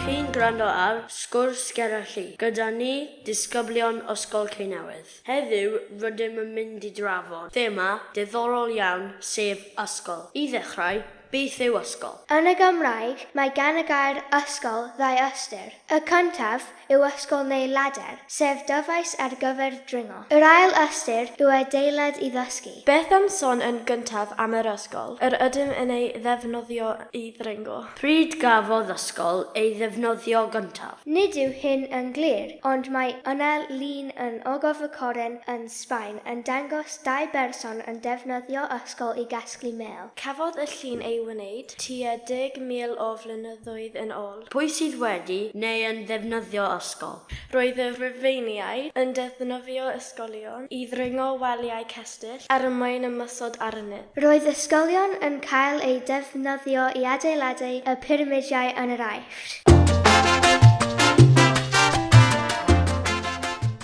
Chi'n gwrando ar Sgwrs Ger y Lli gyda ni, disgyblion Ysgol Ceinewydd. Heddiw rydym yn mynd i drafod thema diddorol iawn sef ysgol. I ddechrau, Beth yw ysgol? Yn y Gymraeg, mae gan y gair ysgol ddau ystyr. Y cyntaf yw ysgol neu lader, sef dyfais ar gyfer dringo. Yr ail ystyr yw adeilad i ddysgu. Beth am sôn yn gyntaf am yr ysgol yr ydym yn ei ddefnyddio i ddringo? Pryd gafodd ysgol ei ddefnyddio gyntaf? Nid yw hyn yn glir, ond mae yna lun yn Ogof y Coren yn Sbaen yn dangos dau berson yn defnyddio ysgol i gasglu mêl. Cafodd y llun ei wneud tua 10,000 o flynyddoedd yn ôl. Pwy sydd wedi neu yn ddefnyddio ysgol? Roedd y Rhufeiniaid yn defnyddio ysgolion i ddringo waliau cestyll ar y mae'n ymosod arnynt. Roedd ysgolion yn cael eu defnyddio i adeiladu y pyramidiau yn yr Aifft.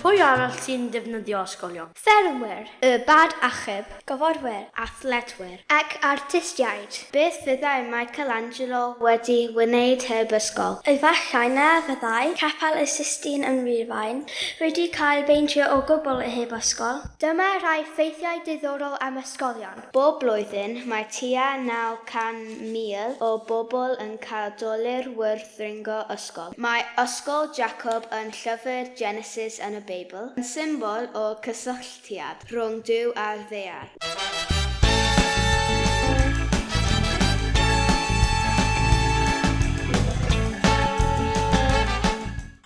Pwy arall sy'n defnyddio ysgolion? Ffermwyr. Y Bad Achub. Gofodwyr. Athletwyr. Ac artistiaid. Beth fyddai Michelangelo wedi wneud heb ysgol? Efallai na fyddai Capel y Sistine yn Rufain wedi cael ei beintio o gwbl heb ysgol. Dyma rai ffeithiau diddorol am ysgolion. Bob blwyddyn, mae tua 900,000 o bobl yn cael dolur wrth ddringo ysgol. Mae Ysgol Jacob yn llyfr Genesis yn y Beibl, yn symbol o gysylltiad rhwng Duw a'r ddaear.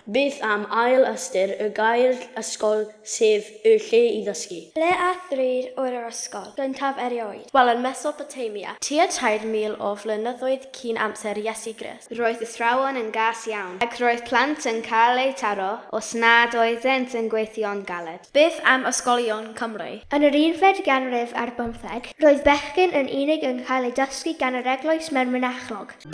Beth am ail ystyr y gair 'ysgol' sef 'y lle i ddysgu'? Ble a thrwy'r oer yr ysgol gyntaf erioed? Wel, yn Mesopotamia, tua 3,000 o flynyddoedd cyn amser Iesu Grist. Roedd athrawon yn gas iawn, ac roedd plant yn cael eu taro os nad oeddent yn gweithio'n galed. Beth am ysgolion Cymru? Yn yr unfed ganrif ar bymtheg, roedd bechgyn yn unig yn cael eu dysgu gan yr eglwys mewn mynachlog. Mae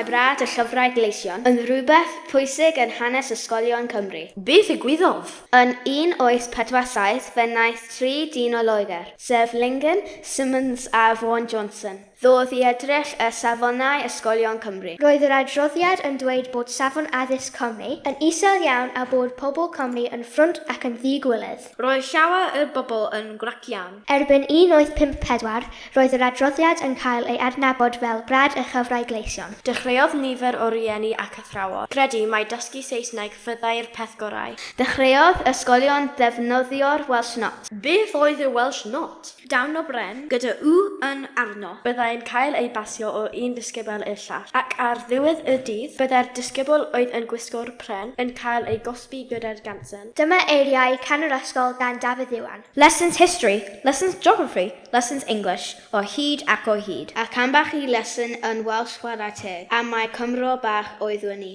brad y llyfrau gleision yn rhywbeth pwysig yn hanes ysgolion Cymru. Be ddigwyddodd? Yn 1847 fe wnaeth tri dyn o Loegr, sef Lingan, Symonds a Vaughan Johnson, Ddodd i edrych ar safonau ysgolion Cymru. Roedd yr adroddiad yn dweud bod safon addysg Cymru yn isel iawn a bod pobl Cymru yn ffrwnt ac yn ddi-gwiledd. Roedd llawer o'r bobl yn grac iawn. Erbyn 1854, roedd yr adroddiad yn cael ei adnabod fel Brad y Llyfrau Gleision. Dechreuodd nifer o rieni ac athrawon gredu mai dysgu Saesneg fyddai'r peth gorau. Dechreuodd ysgolion ddefnyddio'r Welsh Not. Beth oedd y Welsh Not? Dawn o bren, gyda U yn arno. Byddai'n cael ei basio o un ddisgybl i'r llall, ac ar ddiwedd y dydd, byddai'r disgybl oedd yn gwisgo'r pren yn cael ei gosbi gyda'r gansen. Dyma eiriau Can yr Ysgol gan Dafydd Iwan. Lessons History, Lessons Geography, Lessons English, o hyd ac o hyd. Ac ambell i lesson yn Welsh chwarae teg, am mai Cymro bach oeddwn i.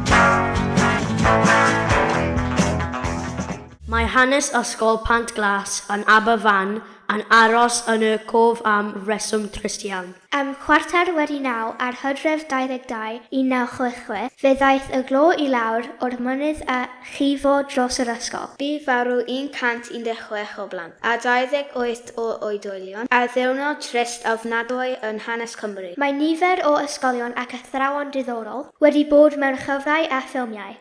Mae hanes Ysgol Pant Glas yn Aberfan yn aros yn y cof am reswm trist iawn. Am chwarter wedi naw ar Hydref 22, 1966, fe ddaeth y glo i lawr o'r mynydd a llifo dros yr ysgol. Bu farw 116 o blant a 28 o oedolion, ar ddiwrnod trist ofnadwy yn hanes Cymru. Mae nifer o ysgolion ac athrawon diddorol wedi bod mewn llyfrau a ffilmiau.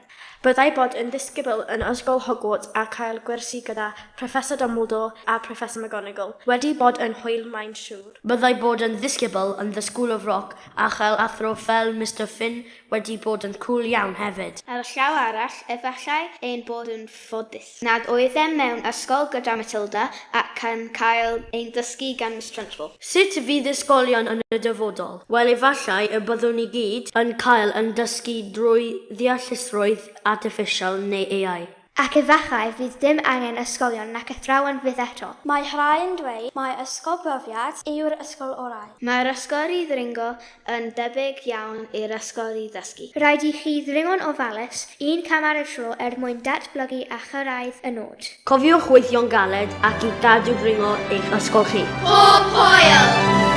Byddai bod yn ddisgybl yn Ysgol Hogwarts a chael gwersi gyda Professor Dumbledore a Professor McGonagall wedi bod yn hwyl mae'n siŵr. Byddai bod yn ddisgybl yn The School of Rock a chael athro fel Mister Finn wedi bod yn cŵl iawn hefyd. Ar y llaw arall, efallai ein bod yn ffodus nad oeddem mewn ysgol gyda Matilda ac yn cael ein ddysgu gan Miss Trunchbull. Sut fydd ysgolion yn y dyfodol? Wel, efallai y byddwn i gyd yn cael yn dysgu drwy ddeallusrwydd artiffisial neu AI. Ac efallai fydd dim angen ysgolion nac athrawon fyth eto. Mae rhai'n dweud mai ysgol brofiad yw'r ysgol orau. Mae'r ysgol i ddringo yn debyg iawn i'r ysgol i ddysgu. Rhaid i chi ddringo'n ofalus, un cam ar y tro er mwyn datblygu a chyrraedd y nod. Cofiwch weithio'n galed ac i'w gadw dringo eich ysgol chi. Pob hwyl!